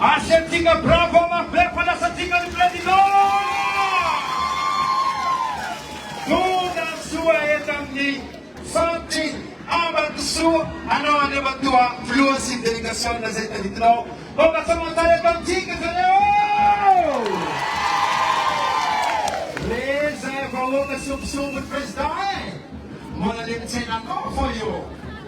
Asiantsika bravo mafy be fa lasantsika ny Président! Tongasoa eto amin'ny Centre Ambatosoa anao Andriamatoa Filoha sy ny Délégation izay taditinao mba mahasamantara eto amintsika zareo! Re izay vahoaka songotsongon'ny Président eh! Mbola le mitsaina anao foana eo!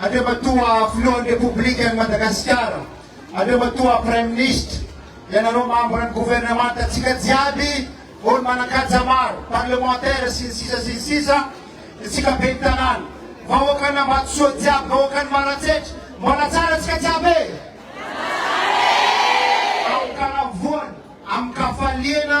Andriamatoa Filohan'ny Repoblikan'i Madagasikara, Andriamatoa Praiminisitra, ianareo mambran'ny Governemantantsika jiaby, olo manan-kaja maro, parlemantera sy ny sisa sy ny sisa, isika Ben'ny Tanàna, vahoakan'Ambatosoa jiaby, vahoakan'i Maratsetra, mbola tsara tsika jiaby e! Tsara e! Aoka anavoany amin-kafaliana.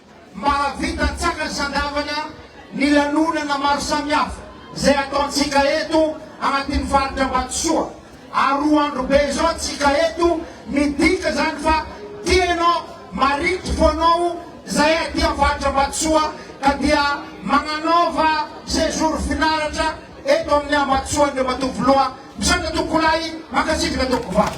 Mahavita tsara ny sandavana ny lanonana maro samihafa izay ataontsika eto anatin'ny faritra Ambatosoa ary roa andro be izao tsika eto midika izany fa tia ianao, marikitry fonao izahay aty amin'ny faritra Ambatosoa ka dia magnanaova séjour finaratra eto amin'ny Ambatosoa Andriamatoa Filoha misaotra tompokolahy mankasitraka tompoko vavy.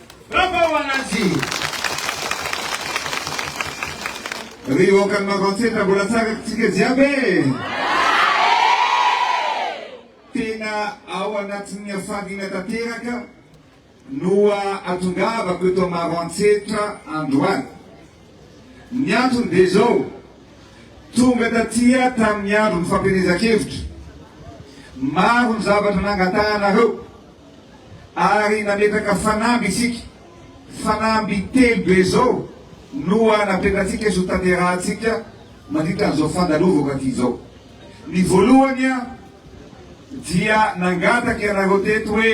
Bravo Ananjy! Ry oakan'i Maroantsetra mbola tsara tsika jiaby e! tena ao anatin'ny hafaliana tanteraka no atongavako eto Maroantsetra androany Ny antony dia izao, tonga taty aho tamin'ny andron'ny fampielezan-kevitra, maro ny zavatra nangatahanareo ary nametraka fanamby isika, fanamby telo be izao no napetratsika sy ho tanterahantsika mandritra an'izao fandalovako aty izao. Ny voalohany dia nangataka ianareo teto hoe,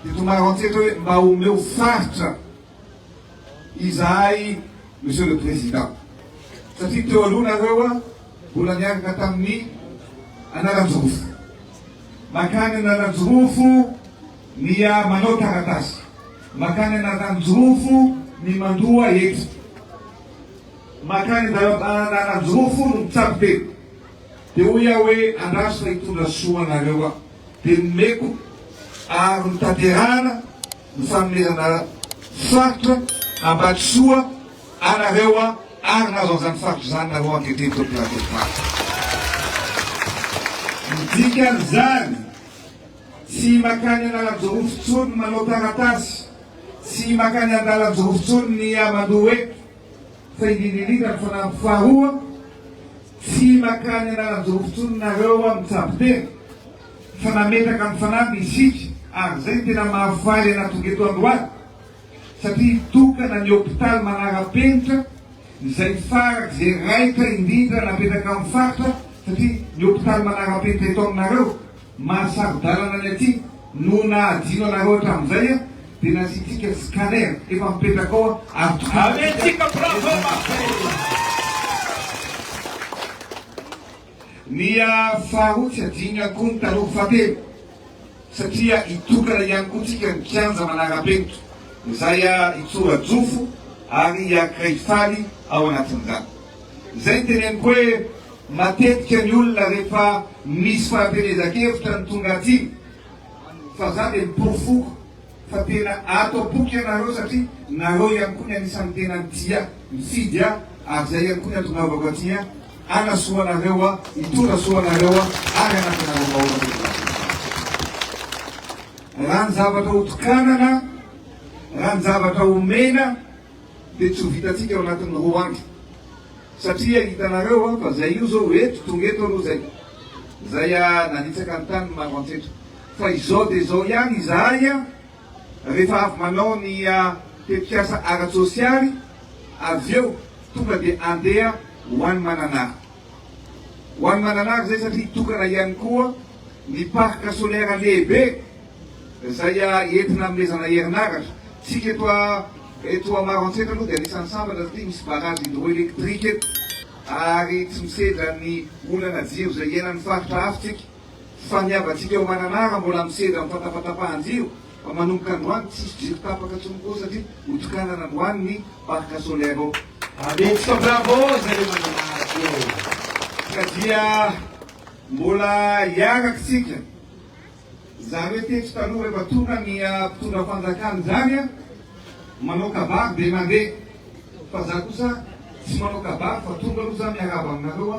teto Maroantsetra hoe mba omeo faritra. izahay Monsieur le Président satria teo aloha nareo mbola niaraka tamin'ny Analanjirofo. Mankany Analanjirofo ny manao taratasy, mankany Analanjirofo ny mandoa hetra, mankany Analanjirofo no mitsabo tena. Dia hoy aho hoe andraso fa hitondra soa anareo aho. Dia nomeko ary notanterahana. ny fanomezana faritra Ambatosoa anareo ary nahazo an'izany faritra izany nareo ankehitriny tompon'andraikitry ny Ny dikan'izany, tsy makany Analanjirofo intsony ny manao taratasy, tsy makany Andalanjirofo intsony ny amandoa eto fa indrindra indrindra ny fanamby faharoa, tsy makany Analanjirofo intsony nareo mitsabo tena. fa nametraka ny fanamby isika ary izay no tena mahafaly anà tonga eto androany satria hitokana ny hopitaly manara-penitra izay farak'izay raitra indrindra napetraka amin'ny faritra satria ny hopitaly manara-penitra eto aminareo mahasaro-dalana ny aty no nahadino anareo hatramin'izay dia nasiantsika scanner efa mipetraka ao ary tokony Amiantsika bravo Martin. Miha faharoa tsy adinona koa ny taloha fahatelo satria hitokana ihany koa tsika ny kianja manara-penitra izay hitsora-jofo ary hiankiray faly ao anatin'izany. Izay ny teneniko hoe matetika ny olona rehefa misy fampielezan-kevitra no tonga aty fa za dia miporofo foko. fa tena ato am-poko ianareo satria nareo ihany koa ny anisan'ny tena tia mifidy ahy ary izay ihany koa ny antonaovako aty ahy hanasoa anareo aho, hitondra soa anareo aho ary hanampy anareo vahoaka teto Vakinankaratra. Raha ny zavatra hotokanana, raha ny zavatra homena dia tsy ho vitantsika ao anatin'ny roa andro satria hitanareo aho fa izay io izao eto, tonga eto aloha izay, izay aho nanitsaka ny tany ny maroantsetra, Fa izao dia izao ihany izahay a, rehefa avy manao ny tetikasa ara-tsosialy, avy eo tonga dia andeha ho any Mananara. Ho any Mananara izay satria tokana ihany koa ny parc solaire lehibe izay entina anomezana herinaratra. Tsika eto eto Maroantsetra aloha dia anisan'ny sambatra satria misy barrage hydroélectrique eto ary tsy misedra ny olana jiro izay iainan'ny faritra hafa tsika. Fa ny havantsika ao Mananara mbola misedra amin'ny fantapatapahan-jiro fa manomboka androany tsisy jiro tapaka tsony koa satria hotokanana androany ny parc solaire ao. Aventsika bravo zareo Mananara koa ka dia mbola hiarak'tsika zareo teto taloha rehefa tonga ny mpitondra fanjakana izany a manao kabary dia mandeha fa za kosa tsy manao kabary fa tonga aloha za miarahaba aminareo a.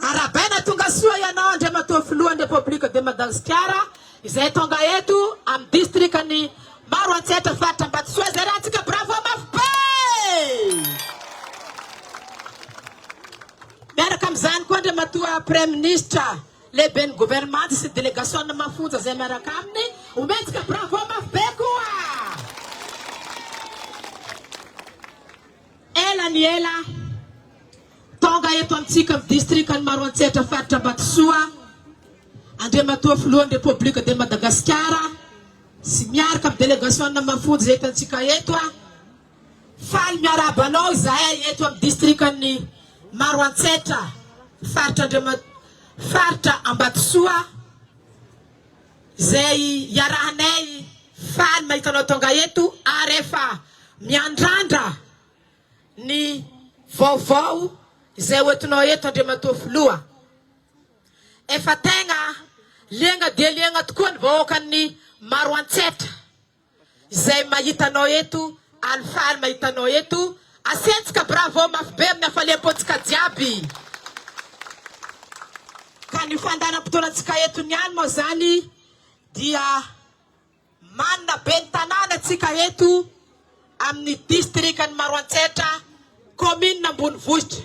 Arabaina Tongasoa ianao Andriamatoa Filohan'ny Repoblika de Madagasikara izay tonga eto amin'ny distrikan'i Maroantsetra faritra Ambatosoa izay ratsika bravo mafy be! Miaraka amin'izany koa Andriamatoa Praiminisitra lehiben'ny governemanta sy delegasiona mafonja izay miaraka aminy omentsika bravo mafy be koa! Ela ny ela, tonga eto amintsika amin'ny distrikan'i Maroantsetra faritra Ambatosoa, Andriamatoa Filohan'ny Repoblika de Madagasikara sy miaraka amin'ny delegasiona mafonja eto antsika eto. Faly miarahaba anao izahay eto amin'ny distrikan'i Maroantsetra faritra Andriamatoa faritra Ambatosoa. Izay iarahanay faly mahita anao tonga eto ary efa miandrandra ny vaovao izay ho entinao eto Andriamatoa Filoha. Efa tegna liagna dia liagna tokoa ny vahoakan'ny Maroantsetra. Izay mahita anao eto alifaly mahita anao eto asentsika bravo mafy be amin'ny hafaliam-pontsika jiaby ka ny fandaharam-potoanantsika eto niany moa zany dia manina be ny tanàna tsika eto amin'ny distrikan'i Maroantsetra kaominina ambonivohitra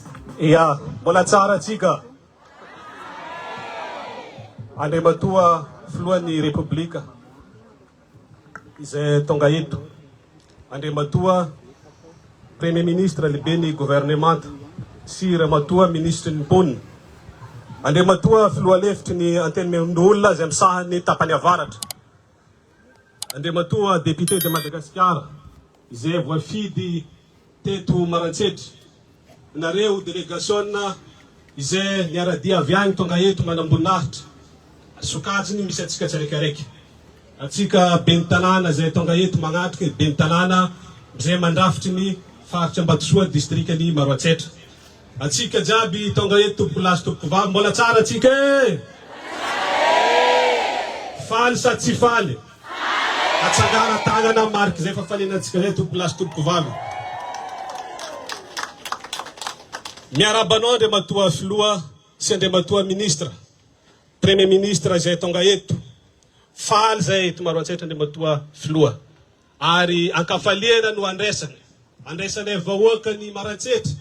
Ia, mbola tsara antsika. Andriamatoa Filohan'ny Repoblika izay tonga eto, Andriamatoa Premier Ministre, Lehiben'ny Governemanta sy Ramatoa Minisitry ny Mponina, Andriamatoa Filoha Lefitry ny Antenimierondoholona izay misahana ny tapany avaratra, Andriamatoa Député de Madagascar izay voafidy teto Maroantsetra, nareo delegasiona izay niara-dia avy any tonga eto manamboninahitra, sokajiny misy antsika tsiraikaraika, antsika Ben'ny tanàna izay tonga eto manatrika Ben'ny tanàna izay mandrafitry ny Faritra Ambatosoa Distrikan'i Maroantsetra. Atsika jiaby tonga eto tompoko lahy sy tompoko vavy mbola tsara atsika eh! Faly sa tsy faly? Atsangana tagnana mariky zay fa faliana atsika zay tompoko lahy sy tompoko vavy. Miarahaba anao Andriamatoa Filoha sy Andriamatoa Ministra, Premier Ministre izay tonga eto. Faly zay eto Maroantsetra Andriamatoa Filoha. Ary an-kafaliana no andraisana. Andraisanay vahoaka ny Maroantsetra,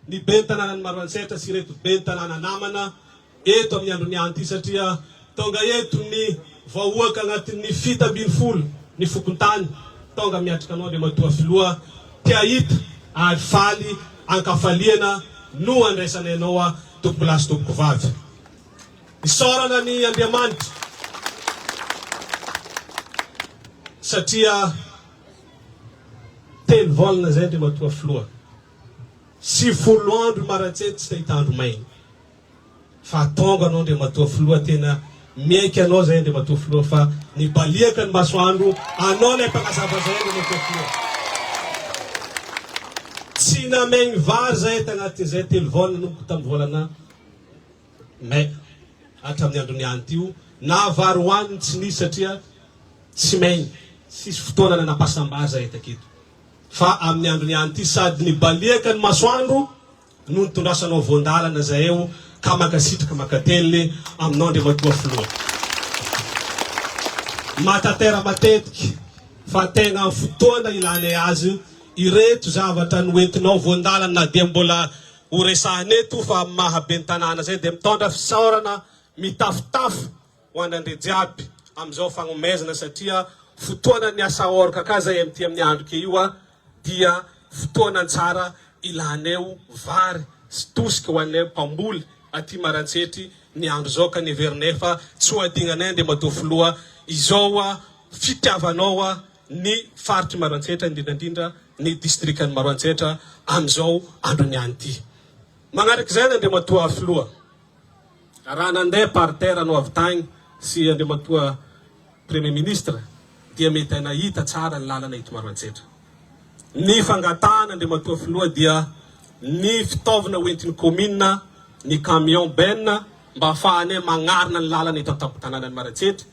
ny Ben'ny tanànan'i Maroantsetra sy ireto Ben'ny tanàna namana eto amin'ny andro miahan'ity satria tonga eto ny vahoaka agnatin'ny fito ambin'ny folo ny fokontany. Tonga miatrika anao Andriamatoa Filoha, te ahita ary faly an-kafaliana no andraisanay anao Tompokolahy sy Tompokovavy. Isaorana an' Andriamanitra satria telo volana izay Andriamatoa Filoha, sy folo andro Imaratse tsy te hitandro maina. Fa tonga anao Andriamatoa Filoha tena miaiky anao izay Andriamatoa Filoha fa nibaliaka ny masoandro anao ilay mpanazava izay Andriamatoa Filoha. Tsy namaigny vary izahay tagnatin'izay telo volana nanomboka tamin'ny volana May, hatramin'ny andron'ny any ity o. Nahavary ho any ny tsy nisy satria tsy main tsisy fotoana nanam-pahasambar zahay taky eto. Fa amin'ny andron'ny any ity sady nibaliaka ny masoandro no nitondrasanao voan-dalana zahay o ka mankasitraka mankateliny aminao Andriamatoa Filoha. Mahatantera matetika fa tegna amin'ny fotoana ilanay azy ireto zavatra noentinao voan-dalana na dia mbola Ho resahina eto fa amin'ny maha ben'ny tanàna izay dia mitondra fisaorana mitafotafo ho an'Andria jiaby amin'izao fagnomezana satria fotoana ny asa ôrka ka izay amin'ity amin'ny andro ke io dia fotoana tsara ilaneo vary sy tosika ho anay mpamboly aty Marantsetry ny andro izao ka neverinay fa tsy ho adinganay Andriamatoa Filoha izao fitiavanao ny faritr'i Maroantsetra, indrindra indrindra ny distrikan'i Maroantsetra amin'izao androny ihany ity. Manaraka izay ny Andriamatoa Filoha, raha nandeha par terre anao avy tagny sy Andriamatoa Premier Ministre dia mety hay nahita tsara ny lalana eto Maroantsetra. Ny fangatahana Andriamatoa Filoha dia ny fitaovana hoentin'ny Commune, ny camion benne mba afahanay magnarina ny lalana eto an-tampon-tananan'i Maroantsetra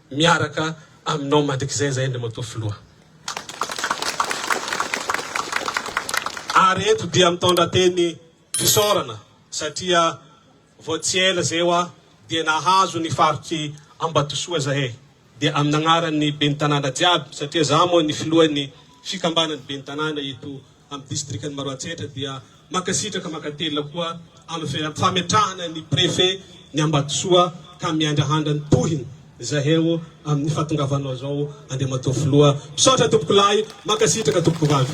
miaraka aminao mandrikizay zay Andriamatoa Filoha. Ary eto dia mitondra teny fisaorana satria vao tsy ela zay hoa dia nahazo ny faritr'i Ambatosoa zahay dia amin'ny agnaran'ny Ben'ny Tanàna jiaby satria za moa ny Filohan'ny Fikambanan'ny Ben'ny Tanàna eto amin'ny distrikan'i Maroantsetra dia mankasitraka mankatelina koa amin'ny fametrahana ny Préfet ny Ambatosoa ka miandrahandra ny tohiny zahay o amin'ny fahatongavanao zao Andriamatoa Filoha. Misaotra Tompokolahy, mankasitraka Tompokovavy.